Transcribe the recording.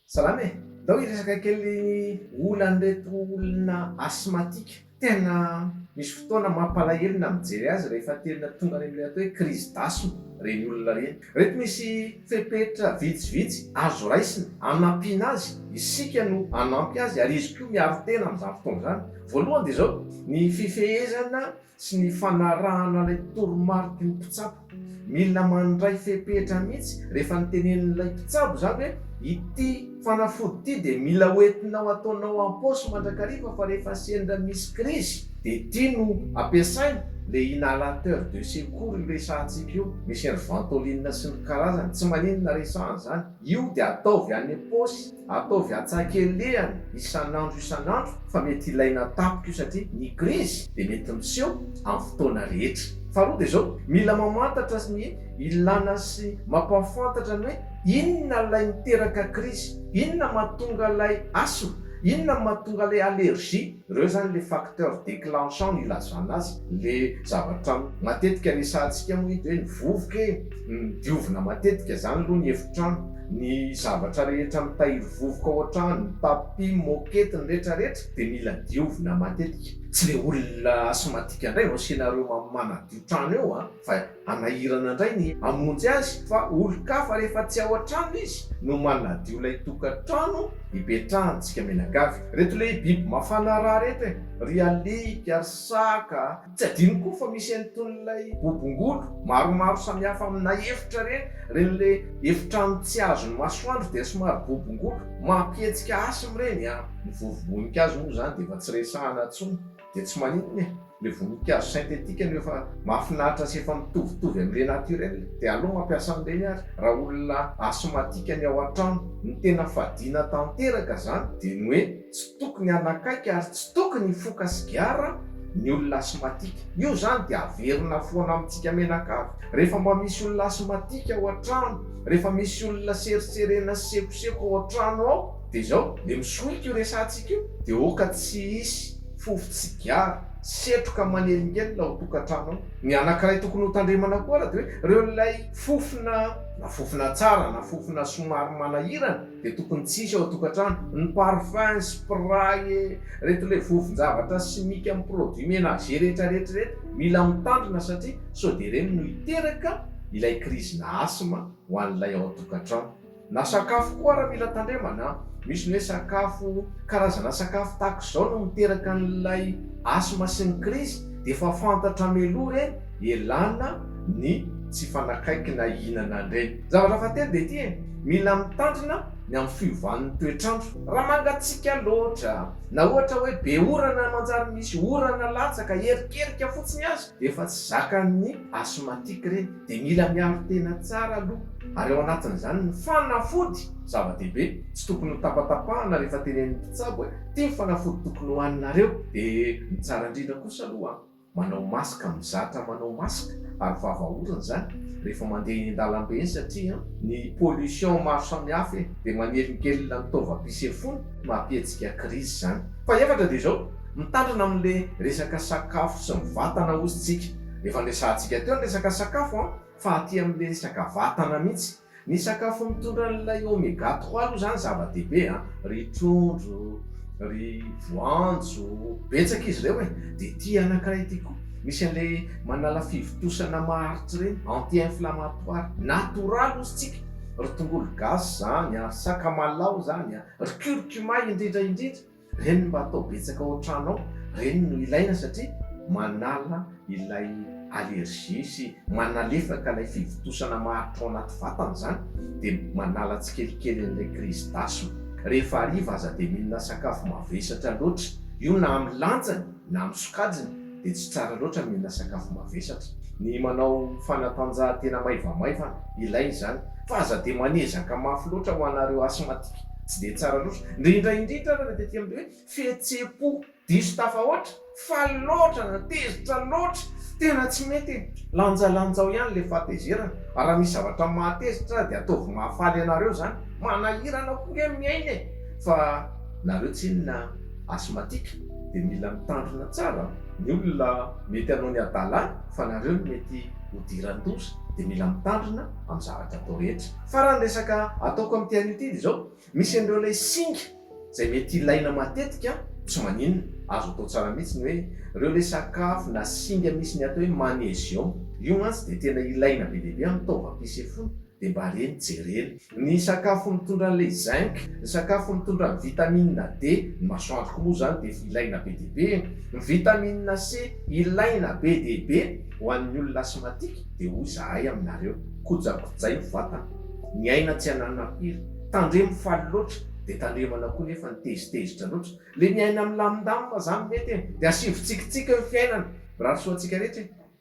Salama e! Ndao hiresaka kely ny olan'ireto olona asthmatique. Tena misy fotoana mampalahelo na mijery azy rehefa tena tonga any amin'ilay atao hoe crise d'asthme ireny olona ireny. Ireto misy fepetra vitsivitsy azo raisina hanampiana azy, isika no hanampy azy ary izy koa miaro tena amin'izany fotoana izany. Voalohany dia izao, ny fifehezana sy ny fanarahana ilay toromariky ny mpitsabo. Mila mandray fepetra mihitsy rehefa notenenin'ilay mpitsabo izany hoe ity fanafody ity dia mila hoentinao ataonao am-paosy mandrakariva fa rehefa sendra misy krizy dia ity no ampiasaina, ilay inhalateur de secours io resahantsika io, misy an'i Ventolin sy ny karazany, tsy maninona resahana izany. Io dia ataovy any am-paosy, ataovy an-tsakelehany isan'andro isan'andro fa mety ilaina tampoka io satria ny krizy dia mety miseho amin'ny fotoana rehetra. Faharoa dia izao, mila mamantatra ny ilana sy mampahafantatra ny hoe inona ilay miteraka krizy, inona mahatonga ilay asthme, inona mahatonga ilay allergie. Ireo izany le facteurs déclenchants nilazana azy le zavatra matetika resahantsika moa eto hoe ny vovoka e! ny diovina matetika izany aloha ny efitrano, ny zavatra rehetra mitahiry vovoka ao an-trano, ny tapis, ny moquette, ny rehetra rehetra dia mila diovina matetika, tsy le olona asthmatique indray vao asiana ireo manadio trano eo an! fa Hanahirana indray ny hamonjy azy fa olon-kafa rehefa tsy ao an-trano izy no manadio ilay tokantrano ipetrahantsika menagavy. Reto le biby mafana ra reto e! Ry alika, ry saka a! Tsy adino koa fa misy an'itonyilay bobongolo maromaro samihafa amina efitra ireny, ireny le efitrano tsy azon'ny masoandro dia somary bobongolo, mampihetsika asthme ireny an! Ny vovo-boninkazo moa izany dia efa tsy resahana intsony. dia tsy maninona e! le voninkazo synthétique anio efa mahafinaritra sy efa mitovitovy amin'le naturel dia aleo mampiasa an'ireny ary raha olona asthmatique ny ao an-trano, ny tena fadiana tanteraka izany dia ny hoe tsy tokony hanakaiky ary tsy tokony hifoka sigara ny olona asthmatique, io izany dia averina foana amintsika menakavy rehefa mba misy olona asthmatique ao an-trano, rehefa misy olona seritserena sy sekoseko ao an-trano ao. de izao le misolika io resahantsika io de hoka tsy hisy fofo tsigara, setroka manelingelina ao tokantrano ao. Ny anakiray tokony hotandremana koa ary de hoe reo ilay fofona, na fofona tsara na fofona somary manahirana de tokony tsy hisy ao tokantrano, ny parfum, spray e, reto le vovonjavatra simika am produit menager rehetra rehetra reto mila mitandrina satria sao de ireny no hiteraka ilay krizina asthme ho an'ilay ao tokantrano. Na sakafo koa ary mila tandremana an! Misy ny hoe sakafo, karazana sakafo tahaka izao no miteraka an'ilay asthme sy ny krizy dia efa fantatra mialoha ireny ialana ny tsy hifanakaiky na hihinana an'ireny. Ny zavatra fahatelo dia ity e, mila mitandrina ny amin'ny fiovan'ny toetr'andro. Raha mangatsiaka loatra, na ohatra hoe be orana manjary misy orana latsaka, erikerika fotsiny aza dia efa tsy zakan'ny asthmatique ireny. dia mila miaro tena tsara aloha ary ao anatin'izany ny fanafody zava-dehibe tsy tokony ho tapatapahana rehefa tenenin'ny mpitsabo hoe ty ny fanafody tokony hohaninareo dia ny tsara indrindra kosa aloha manao masque mizatra manao masque ary vava orona izany rehefa mandeha eny an-dalambe eny satria ny pollution maro samihafa e dia manelingelina ny taovam-pisefoana mampihetsika crise izany. Fahefatra dia izao, mitandrina amin'ilay resaka sakafo sy ny vatana hozy tsika Efa niresahantsika teo ny resaka sakafo an, fa aty amin'ilay resaka vatana mihitsy. Ny sakafo mitondra an'ilay oméga trois aloha izany zava-dehibe an, ry trondro, ry voanjo, betsaka izy ireo e! dia ity anankiray ity koa, misy an'ilay manala fivontosana maharitra ireny, anti inflammatoire, natoraly hozy tsika, ry tongolo gasy izany an, ry sakamalaho izany an, ry curcuma indrindra indrindra. Reny mba atao betsaka ao an-trano ao, reny no ilaina satria manala ilay allergie sy manalefaka ilay fivontosana maharitra ao anaty vatana izany dia manala tsikelikely an'ilay crise d'asthme. Rehefa hariva aza dia mihinana sakafo mavesatra loatra, io na amin'ny lanjany, na amin'ny sokajiny dia tsy tsara loatra ny mihinana sakafo mavesatra. Ny manao fanatanjahantena maivamaivana, ilaina izany, fa aza dia manezaka mafy loatra ho anareo asthmatique, tsy dia tsara loatra, indrindra indrindra ary ny tety amin'ny hoe fihetsem-po diso tafahoatra, faly loatra na tezitra loatra, tena tsy mety e! Lanjalanjao ihany ilay fahatezerana, raha misy zavatra mahatezitra dia ataovy mahafaly anareo izany, manahirana koa nge miaina e! fa nareo tsinona a! Asthmatique dia mila mitandrina tsara ny olona mety hanao ny adala fa nareo no mety ho diran-doza dia mila mitandrina amin'ny zavatra atao rehetra. Fa raha ny resaka ataoko amin'ity anio ity dia izao, misy an'ireo ilay singa izay mety ilaina matetika tsy maninona, azo atao tsara mihitsy ny hoe ireo ilay sakafo na singa misy ny atao hoe magnesium, io mantsy dia tena ilaina be dia be amin'ny taovam-pisefoana. Dia mba reny jerena. Ny sakafo mitondra an'ilay zinc, ny sakafo mitondra ny vitamine D, ny masoandro koa moa izany dia efa ilaina be dia be e! Ny vitamine C ilaina be dia be ho an'ny olona asthmatique dia hoy izahay aminareo, kojakojaina ny vatana, ny aina tsy ananona impiry, tandremo faly loatra dia tandremana koa nefa ny tezitezitra loatra, le ny aina milamindamina zany mety e! Dia asivo tsikitsiky ny fiainana, mirary soa antsika rehetra e!